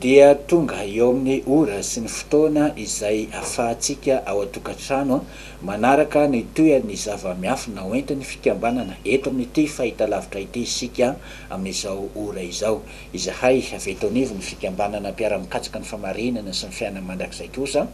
Dia tonga eo amin'ny ora sy ny fotoana izay afahantsika ao an-tokantrano manaraka ny tohin'ny zava-miafina hoentin'ny fikambanana eto amin'ity fahitalavitra ity isika amin'izao ora izao. Izahay avy eto anivon'ny Fikambanana Mpiara-mikatsaka ny Famarinana sy ny Fiainana Mandrakizay kosa,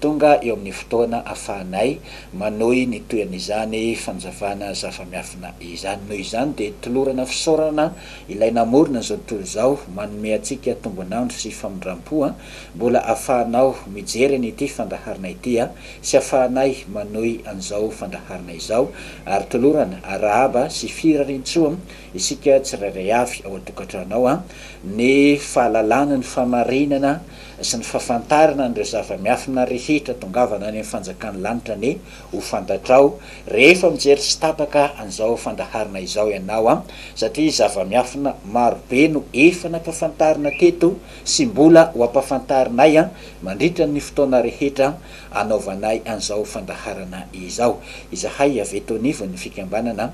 tonga eo amin'ny fotoana ahafahanay manohy ny toy an'izany fanazavana zava-miafina izany. Noho izany, dia tolorana fisaorana Ilay namorona izao tontolo izao, manome antsika tombon'andro sy famindram-po, mbola ahafahanao mijery an'ity fandaharana ity sy ahafahanay manohy an'izao fandaharana izao, ary tolorana arahaba sy firarian-tsoa Isika tsirairay avy ao an-tokantrano ao, ny fahalalana ny famarinana sy ny fahafantarana an'ireo zava-miafina rehetra tongavana any amin'ny fanjakan'ny lanitra anie ho fantatrao rehefa mijery tsy tapaka an'izao fandaharana izao ianao satria zava-miafina maro be no efa nampafantarina teto sy mbola ho ampafantarinay mandritra ny fotoana rehetra anaovanay an'izao fandaharana izao. Izahay avy eto anivon'ny fikambanana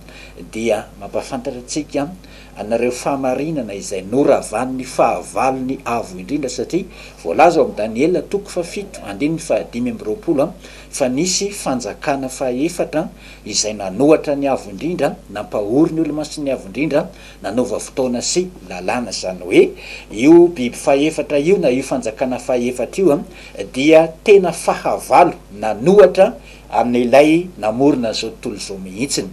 dia mampahafantatra antsika anareo fahamarinana izay noravan'ny fahavalony avo indrindra, satria voalaza ao amin'ny Daniela toko fahafito andininy fahadimy amby roapolo fa nisy fanjakana fahefatra izay nanohatra ny avo indrindra, nampahory ny olo-masiny avo indrindra, nanova fotoana sy lalàna, izany hoe io biby fahefatra io na io fanjakana fahefatra io dia tena fahavalo nanohatra Amin'ilay namorona an'izao tontolo izao mihitsiny.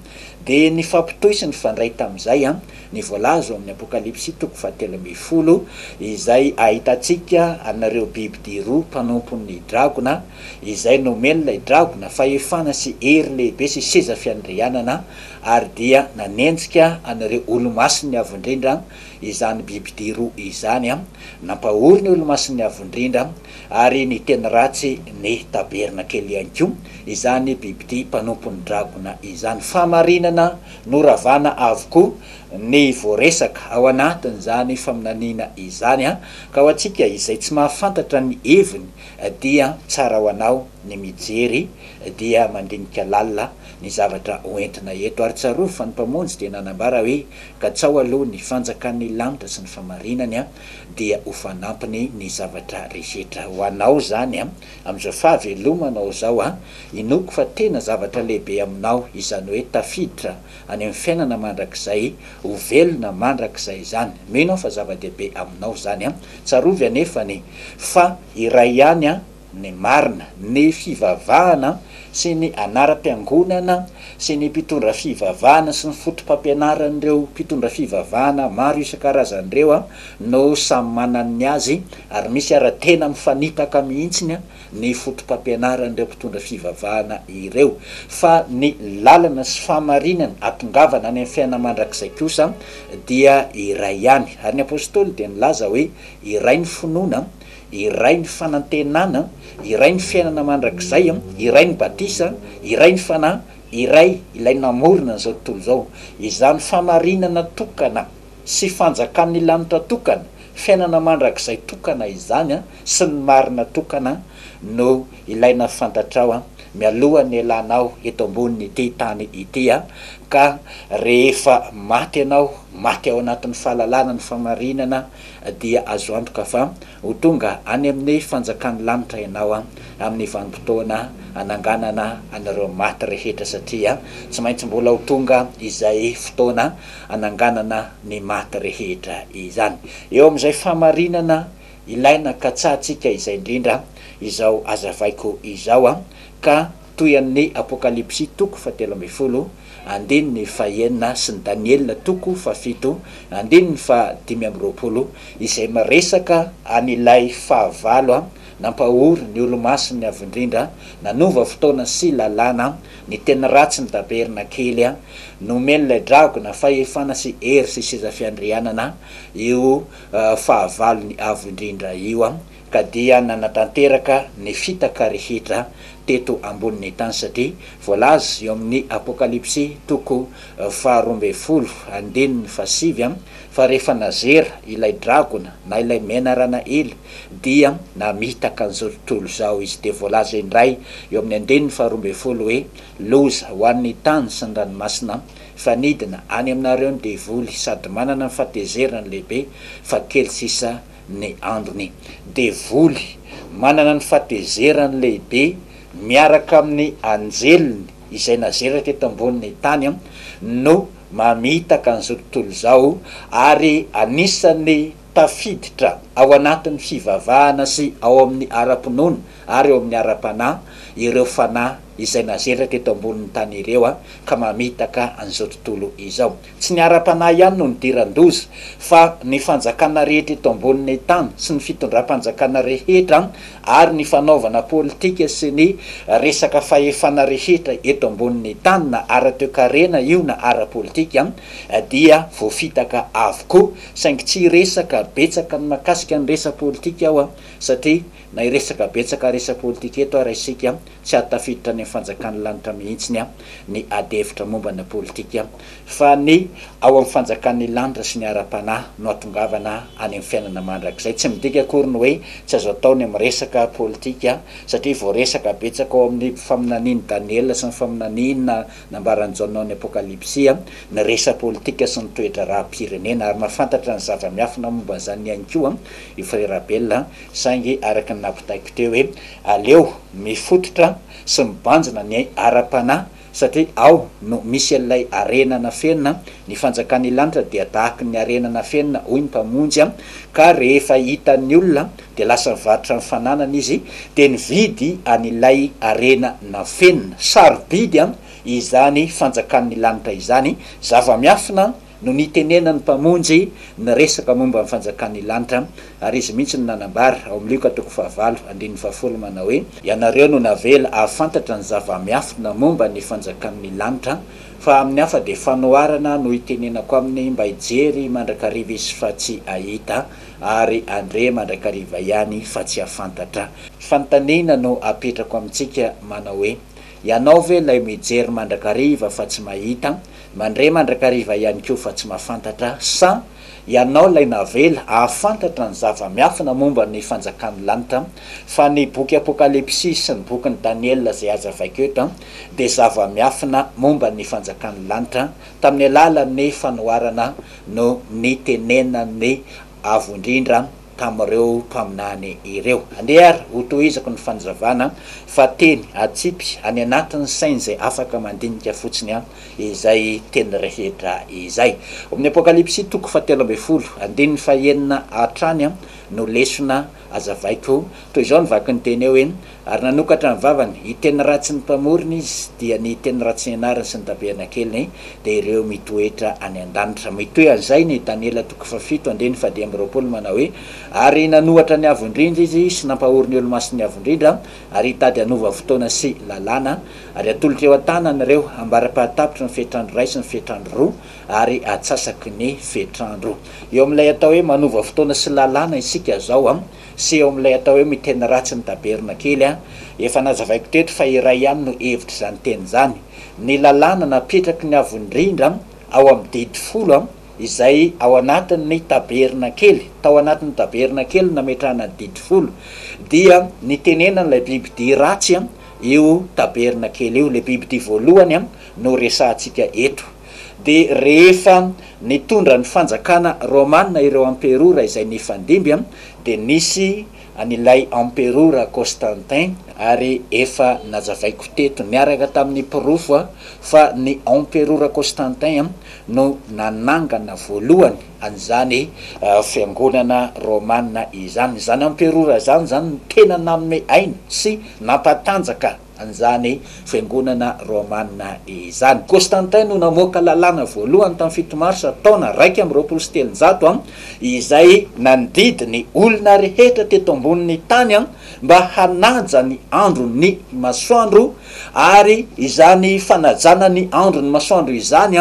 Dia nifampitohy sy nifandray tamin'izay ny voalaza ao amin'ny Apokalypsy toko fahatelo ambin'ny folo, izay ahitantsika an'ireo bibidia roa mpanompon'ny dragona, izay nomen'ilay dragona fahefana sy hery lehibe sy seza fiandrianana, ary dia nanenjika an'ireo Olomasin'ny Avo Indrindra izany bibidia roa izany, nampahory ny Olomasin'ny Avo Indrindra, Ary ny teny ratsy ny tabernakely ihany koa izany bibidia mpanompon'ny dragona izany. Fahamarinana noravana avokoa ny voaresaka ao anatin'izany faminaniana izany ka ho antsika izay tsy mahafantatra ny heviny dia tsara ho anao ny mijery dia mandinika lalina ny zavatra hoentina eto. Ary tsarovy fa ny Mpamonjy dia nanambara hoe, Katsaho aloha ny fanjakan'ny lanitra sy ny fahamarinany dia ho fanampiny ny zavatra rehetra ho anao izany amin'izao fahavelomanao izao an! Inoako fa tena zavatra lehibe aminao izany hoe tafiditra any amin'ny fiainana mandrakizay, ho velona mandrakizay izany. Mino aho fa zava-dehibe aminao izany an! Tsarovy anefany fa iray ihany ny marina, ny fivavahana sy ny anaram-piangonana sy ny mpitondra fivavahana sy ny fotopampianaran'ireo mpitondra fivavahana maro isan-karazany ireo no samy manana ny azy ary misy ary tena mifanipaka mihitsy ny fotopampianaran'ireo mpitondra fivavahana ireo fa ny lalana sy fahamarinana hatongavana any amin'ny fiainana mandrakizay kosa dia iray ihany ary ny apostoly dia nilaza hoe iray ny finoana Iray ny fanantenana, iray ny fiainana mandrakizay, iray ny batisa, iray ny Fanahy, iray Ilay namorona an'izao tontolo izao. Izany famarinana tokana sy fanjakan'ny lanitra tokana, fiainana mandrakizay tokana izany sy ny marina tokana no ilaina fantatrao mialoha ny hialanao eto ambonin'ity tany ity ka rehefa maty ianao, maty ao anatin'ny fahalalana ny famarinana, dia azo antoka fa ho tonga any amin'ny fanjakan'ny lanitra ianao amin'ny vanim-potoana hananganana an'ireo maty rehetra, satria tsy maintsy mbola ho tonga izay fotoana hananganana ny maty rehetra izany. Eo amin'izay fahamarinana ilaina katsahantsika izay indrindra izao hazavaiko izao, ka toy an'ny Apokalypsy toko fahatelo ambin'ny folo, andininy fahaenina, sy ny Daniela toko fahafito, andininy fahadimy amby roapolo, izay miresaka an'ilay fahavalo nampahory ny Olomasiny Avo Indrindra, nanova fotoana sy lalàna, ny teny ratsy ny tabernakely, nomen'ilay dragona fahefana sy hery sy seza fiandrianana io fahavalony avo indrindra io. ka dia nanatanteraka ny fitaka rehetra teto ambonin'ny tany, satria voalaza eo amin'ny Apokalypsy toko faharoa ambin'ny folo andininy fahasivy fa rehefa nazera ilay dragona na ilay menarana ela dia namitaka an'izao tontolo izao izy, dia voalaza indray eo amin'ny andininy faharoa ambin'ny folo hoe, Loza ho an'ny tany sy ny ranomasina, fa nidina any aminareo ny devoly sady manana ny fahatezeran'ny lehibe, fa kely sisa ny androny. Devoly, manana ny fatezerany lehibe miaraka amin'ny anjeliny izay nazerany teto ambonin'ny tany, no mamitaka an'izao tontolo izao ary anisan'ny tafiditra ao anatin'ny fivavahana sy ao amin'ny ara-pinoana ary ao amin'ny ara-panahy ireo fanahy izay nazerany teto ambonin'ny tany ireo ka mamitaka an'izao tontolo izao. Tsy ny ara-panahy ihany no nidiran-doza, fa ny fanjakana rehetra eto ambonin'ny tany, sy ny fitondram-panjakana rehetra, ary ny fanaovana politika sy ny resaka fahefana rehetra eto ambonin'ny tany, na ara-toekarena io na ara-politika, dia voafitaka avokoa. Saingy tsy hiresaka betsaka ny mahakasika ny resa-politika aho, satria na hiresaka betsaka resa-politika eto ara isika, tsy hahatafiditra any amin'ny fanjakan'ny lanitra mihitsy ny adihevitra momba ny politika. fa ny ao amin'ny fanjakan'ny lanitra sy ny ara-panahy no atongavana any amin'ny fiainana mandrakizay. Tsy midika akory ny hoe tsy azo atao ny miresaka politika, satria voaresaka betsaka ao amin'ny faminanian'i Daniela sy ny faminaniana nambaran'i Jaona ao amin'ny Apokalypsy ny resa-politika sy ny toe-draharaham-pirenena, ary mahafantatra ny zava-miafina momba an'izany ihany koa i Frera Abel, saingy araka ny nampitaiko teo hoe aleo mifototra sy mibanjina ny ara-panahy, Satria ao no misy an'ilay harena nafenina, ny fanjakan'ny lanitra dia tahaky ny harena nafenina, hoy ny Mpamonjy, ka rehefa hitan'ny olona dia lasa nivarotra ny fananany Izy, dia nividy an'ilay harena nafenina. Sarobidy izany fanjakan'ny lanitra izany, zava-miafina no nitenenan'ny Mpamonjy ny resaka momba ny fanjakan'ny lanitra, ary Izy mihitsy no nanambara, ao amin'ny Lioka toko fahavalo, andininy fahafolo, manao hoe, Ianareo no navela hahafantatra ny zava-miafina momba ny fanjakan'ny lanitra, fa amin'ny hafa dia fanoharana no itenenako aminy mba hijery mandrakariva izy fa tsy hahita, ary handre mandrakariva ihany fa tsy hahafantatra. Fanontaniana no apetrako amintsika, manao hoe, Ianao ve ilay mijery mandrakariva fa tsy mahita? Mandre mandrakariva ihany koa fa tsy mahafantatra sa ianao ilay navela hahafantatra ny zava-miafina momba ny fanjakan'ny lanitra fa ny boky Apokalypsy sy ny bokin'i Daniela izay aza vaiko eto dia zava-miafina momba ny fanjakan'ny lanitra tamin'ny alalan'ny fanoharana no nitenenan'ny Avo Indrindra tamin'ireo mpaminany ireo. Andeha àry hotohizako ny fanazavana fa teny atsipy any anatin'ny saina izay afaka mandinika fotsiny izay teny rehetra izay. Ao amin'ny Apokalypsy toko fahatelo ambin'ny folo, andininy fahenina hatrany no lesona azavaiko. Toy izao ny vakin'ny teny hoe, Ary nanokatra ny vavany, hiteny ratsy ny Mpamorona izy, dia ny hiteny ratsy ny anariny sy ny tabenakely, dia ireo mitoetra any an-danitra. Mitohy an'izay ny Daniela toko fahafito, andininy fahadimy amby roapolo, manao hoe, Ary nanohatra ny Avo Indrindra izy, sy nampahory ny Olomasin'ny Avo Indrindra, ary hitady hanova fotoana sy lalàna, ary hatolotra eo an-tanany ireo ambara-pahatapitry ny fetr'andro iray sy ny fetr'andro roa, ary atsasaky ny fetr'andro. Eo amin'ilay atao hoe manova fotoana sy lalàna isika izao. sy eo amin'ilay atao hoe miteny ratsy ny daberona kely an! Efa nazavaiko teto fa iray ihany no hevitr'izany teny izany. Ny lalàna napetraky ny Avo Indrindra ao amin'ny didy folo izay ao anatin'ny taberna kely, tao anatin'ny taberna kely nametrahana ny didy folo, dia nitenenan'ilay bibidia ratsy io taberna kely io, ilay bibidia voalohany no resahantsika eto. dia rehefa nitondra ny fanjakana romana ireo amperora izay nifandimby dia nisy an'ilay amperora Costantin ary efa nazavaiko teto niaraka tamin'ny porofo fa ny amperora Costantin no nanangana voalohany an'izany fiangonana romana izany. Izany amperora izany izany no tena nanome aina sy nampatanjaka an'izany Fiangonana Romanina izany. Constantin no namoaka lalàna voalohany tamin'ny fito Marsa taona raika amby roapolo sy telonjato, izay nandidy ny olona rehetra teto ambonin'ny tany mba hanaja ny andron'ny masoandro, ary izany fanajana ny andron'ny masoandro izany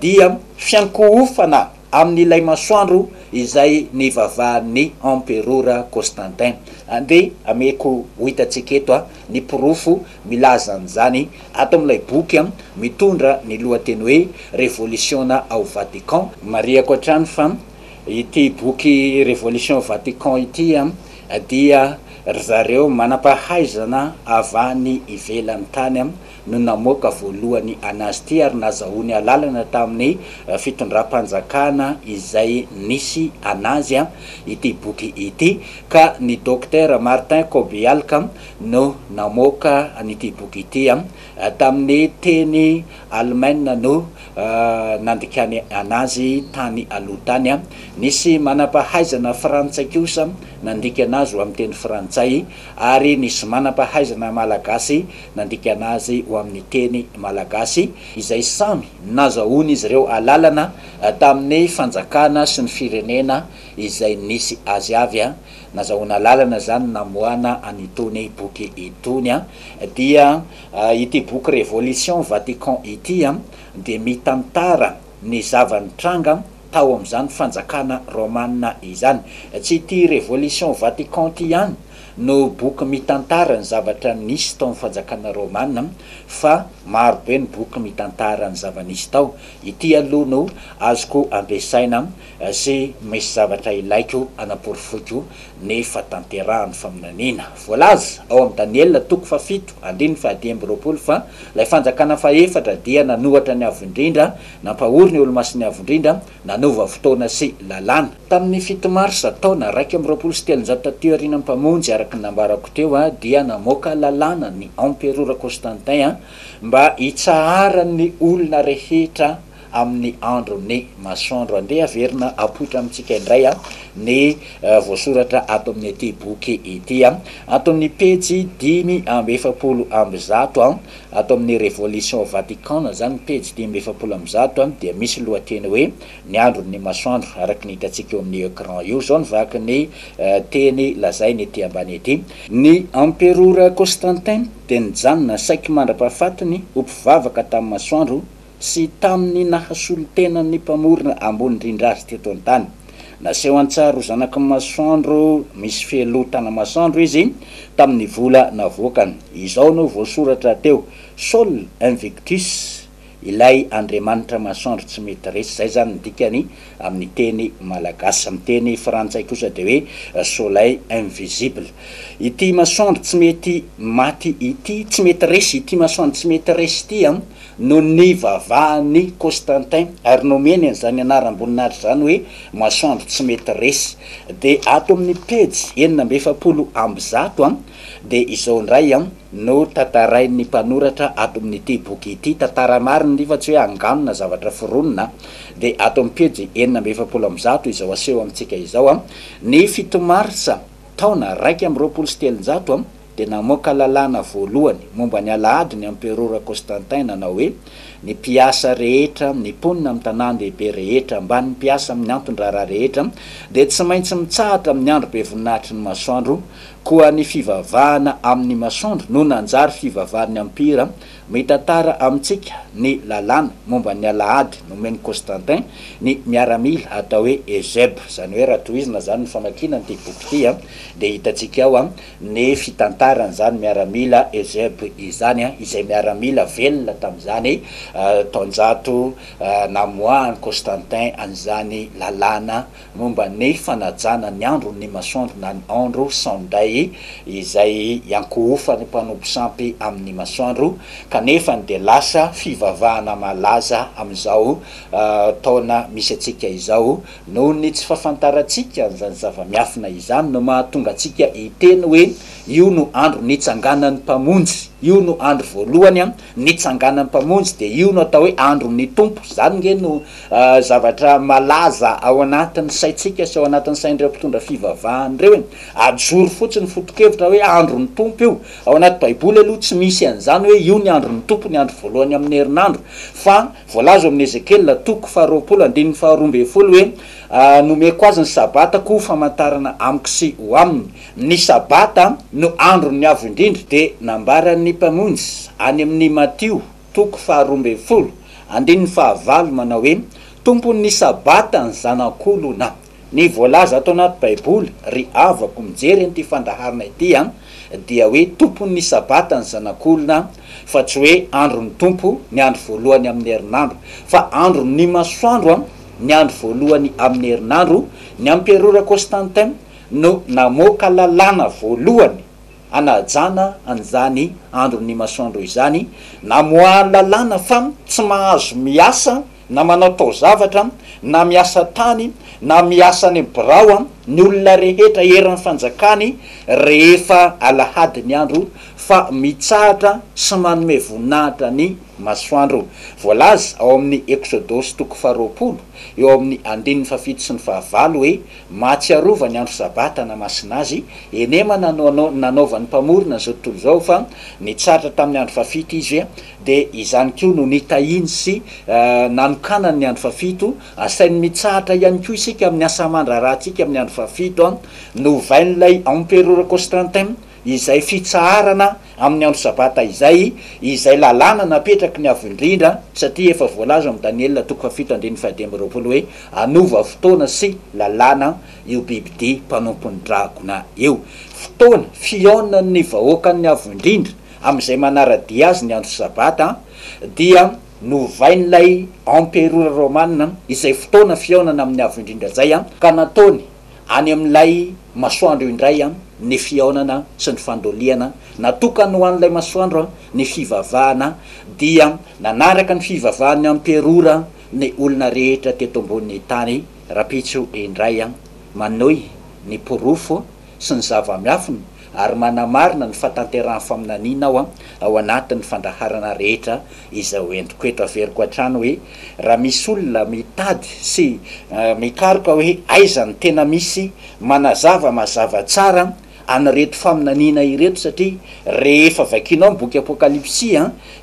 dia fiankohofana, amin'ilay masoandro izay nivavahan'ny emperora Constantin. Andeha hameko ho hitantsika eto ny porofo milaza an'izany ato amin'ilay boky mitondra ny lohateny hoe Revolisiona ao Vatican. Marihako hatrany fa ity boky Revolution au Vatican ity dia ry zareo manam-pahaizana avy any ivelan'ny tany no namoaka voalohany anazy ity ary nazahoany alalana tamin'ny fitondram-panjakana izay nisy anazy ity boky ity ka ny Dokotera Martin Kobyalka no namoaka an'ity boky ity tamin'ny teny Alemana no nandikany anazy tany aloha tany. Nisy manam-pahaizana frantsay kosa nandika anazy ho amin'ny teny frantsay ary nisy manam-pahaizana malagasy nandikana azy ho amin'ny teny malagasy, izay samy nazahoan'izy ireo alalana tamin'ny fanjakana sy ny firenena izay nisy azy avy. Nazahoana alalana izany namoahana an'itony boky itony. Dia ity boky Révolution Vatican ity dia mitantara. ny zava-nitranga tao amin'izany fanjakana Romana izany. Tsy ity Révolution Vatican ity ihany no boky mitantara ny zavatra nisy tao amin'ny fanjakana Romana fa maro be ny boky mitantara ny zava-nisy tao. Ity aloha no azoko ampiasaina Sy misy zavatra ilaiko hanaporofoiko ny fahatanterahan'ny faminaniana voalaza ao amin'i Daniela toko fahafito andininy fahadimy amby roapolo fa ilay fanjakana fahefatra dia nanohatra ny Avo Indrindra, nampahory ny Olomasin'ny Avo Indrindra, nanova fotoana sy lalàna. Tamin'ny fito marsa taona iraika amby roapolo sy telonjato taty aoriana ny Mpamonjy, araka ny nambarako teo, dia namoaka lalàna ny Emperora Constantin mba hitsaharan'ny olona rehetra, amin'ny andro ny masoandro. Andeha averina apoitra amintsika indray ny voasoratra ato amin'ity boky ity. Ato amin'ny pejy dimy amby efapolo amby zato, ato amin'ny Révolution Vatican izany, pejy dimy amby efapolo amby zato, dia misy lohateny hoe Ny andron'ny masoandro, araka ny hitantsika eo amin'ny ecran io. Izao ny vaky ny teny lazainy ety ambany ety. Ny Emperora Constantin dia nijanona saiky mandra-pahafatiny ho mpivavaka tamin'ny masoandro sy tamin'ny nahasolo tena ny Mpamorona ambony indrindra azy teto an-tany. Naseho an-tsary ho zanaky ny masoandro misy felotana masoandro izy tamin'ny vola navoakany. Izao no voasoratra teo, Sol invictus, ilay andriamanitra masoandro tsy mety resy. Izay izany ny dikany amin'ny teny malagasy. Amin'ny teny frantsay kosa dia hoe soleil invisible. Ity masoandro tsy mety maty ity, tsy mety resy, ity masoandro tsy mety resy ity Noho ny vavahan'i Constantin ary nomeny an'izany anaram-boninahitra izany hoe Masoandro tsy mety resy. Dia ato amin'ny pejy enina amby efapolo amby zato dia izao indray no tantarain'ny mpanoratra ato amin'ity boky ity, tantara marina ity fa tsy hoe angano na zavatra foronina. Dia ato amin'ny pejy enina amby efapolo amby zato izao aseho amintsika izao, Ny fito martsa taona iraika amby roapolo sy telonjato, dia namoaka lalàna voalohany momba ny alahady ny Emperora Constantin nanao hoe, Ny mpiasa rehetra, ny mponina amin'ny tanàn-dehibe rehetra, ambanin'ny mpiasa amin'ny anton-draharaha rehetra, dia tsy maintsy mitsahatra amin'ny andro be voninahitry ny masoandro, koa ny fivavahana amin'ny masoandro no nanjary fivavahan'ny ampira. Mitantara amintsika ny lalàna momba ny alahady nomen'i Constantin ny miaramila atao hoe Eusèbe. Izany hoe raha tohizina izany ny famakiana an'ity boky ity dia hitantsika ao ny fitantaran'izany miaramila Eusèbe izany, izay miaramila velona tamin'izany taonjato namoahan'i Constantin an'izany lalàna momba ny fanajana ny andron'ny masoandro na ny andro Sunday izay iankohofan'ny mpanompo sampy amin'ny masoandro, kanefa ny dia lasa fivavahana malaza amin'izao taona misy antsika izao. Noho ny tsy fahafantarantsika an'izany zava-miafina izany no mahatonga antsika hiteny hoe, Io no andro nitsanganan'ny Mpamonjy. Io no andro voalohany nitsanganan'ny Mpamonjy, dia io no atao hoe andron'ny Tompo. Izany ange no zavatra malaza ao anatin'ny saintsika sy ao anatin'ny sain'ireo mpitondra fivavahana ireo e. Ajoro fotsiny foto-kevitra hoe andron'ny Tompo io. Ao anaty Baiboly aloha tsy misy an'izany hoe io ny andron'ny Tompo, ny andro voalohany amin'ny herinandro, fa. Voalaza ao amin'ny Ezekiela toko faharoapolo andininy faharoa ambin'ny folo hoe, Nomeko azy ny Sabatako ho famantarana amiko sy ho aminy. Ny Sabata no andron'ny Avo Indrindra, dia nambaran'ny Mpamonjy any amin'ny Matio toko faharoa ambin'ny folo andininy fahavalo manao hoe, Tompon'ny Sabata ny zanak'olona. Ny voalaza ato anaty baiboly ry havako mijery an'ity fandaharana ity an dia hoe tompon'ny sabata ny zanak'olona fa tsy hoe andron'ny tompo ny andro voalohany amin'ny herinandro fa andron'ny masoandro an ny andro voalohany amin'ny herinandro ny amperora Constantin no namoaka lalàna voalohany anajana an'izany andron'ny masoandro izany namoahany lalàna fa tsy mahazo miasa na manao taozavatra, na miasa tany, na miasa any amin'ny birao, ny olona rehetra eran'ny fanjakany rehefa alahady ny andro fa mitsahatra sy manome voninahitra ny masoandro. Voalaza ao amin'ny Eksodosy toko faharoapolo, eo amin'ny andininy fahafito sy ny fahavalo hoe, Mahatsiarova ny andro Sabata na masina azy, eny manana no nanaovan'ny Mpamorona izao tontolo izao fa nitsahatra tamin'ny andro fahafito Izy, dia izany koa no nitahiany sy nanokanany ny andro fahafito, asainy mitsahatra ihany koa isika amin'ny asa aman-draharahantsika amin'ny andro fahafito, novain'ilay emperora Constantin izay fitsaharana amin'ny andro sabata izay, izay lalàna napetraky ny Avo Indrindra, satria efa voalaza ao amin'ny Daniela toko fahafito andininy fahadimy amby roapolo hoe, Hanova fotoana sy lalàna io bibidia mpanompon'ny dragona io. Fotoana fihaonan'ny vahoakan'ny Avo Indrindra. Amin'izay manara-dia azy ny andro Sabata dia novain'ilay emperora romana izay fotoana fihaonana amin'ny Avo Indrindra izay ka nataony any amin'ilay masoandro indray ny fihaonana sy ny fandoliana. Natokany ho an'ilay masoandro ny fivavahana dia nanaraka ny fivavahan'ny emperora ny olona rehetra teto ambonin'ny tany. Rahampitso indray manohy ny porofo. sy ny zava-miafina ary manamarina ny fahatanterahan'ny faminaniana aho ao anatin'ny fandaharana rehetra izay ho entiko eto. Averiko hatrany hoe raha misy olona mitady sy mikaroka hoe aiza no tena misy manazava mazava tsara an'ireto faminaniana ireto satria rehefa vakianao ny boky Apokalypsy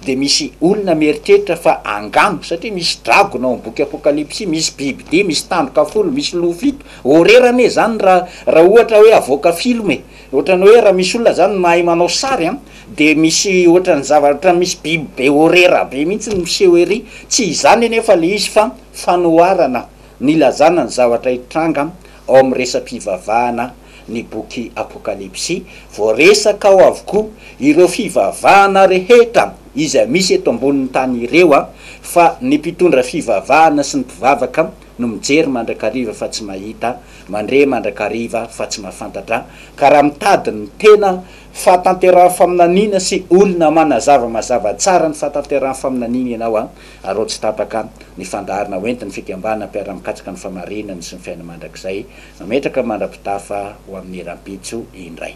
dia misy olona mieritreritra fa angamba satria misy dragona ao amin'ny boky Apokalypsy, misy bibidia, misy tandroka folo, misy loha fito, Horer anie zany ra ra ohatra hoe avoaka film e! Otrany hoe ra misy olona zany mahay manao sary an! Dia misy otrany zava otrany misy biby be horer be mihitsy no miseho ery! Tsy izany anefa le izy fa fanoharana ny ilazana ny zavatra hitranga ao amin'ny resa-pivavahana ny boky Apokalypsy. Voaresaka ao avokoa ireo fivavahana rehetra izay misy eto ambonin'ny tany ireo fa ny mpitondra fivavahana sy ny mpivavaka no mijery mandrakariva fa tsy mahita, mandre mandrakariva fa tsy mahafantatra, ka raha mitady ny tena fahatanterahan'ny faminaniana sy olona manazava mazava tsara ny fahatanterahan'ny faminaniana ianao, araho tsy tapaka ny fandaharana hoentin'ny fikambanana mpiara-mikatsaka ny fahamarinana sy ny fiainana mandrakizay, mametraka mandra-pitafa ho amin'ny rahampitso indray.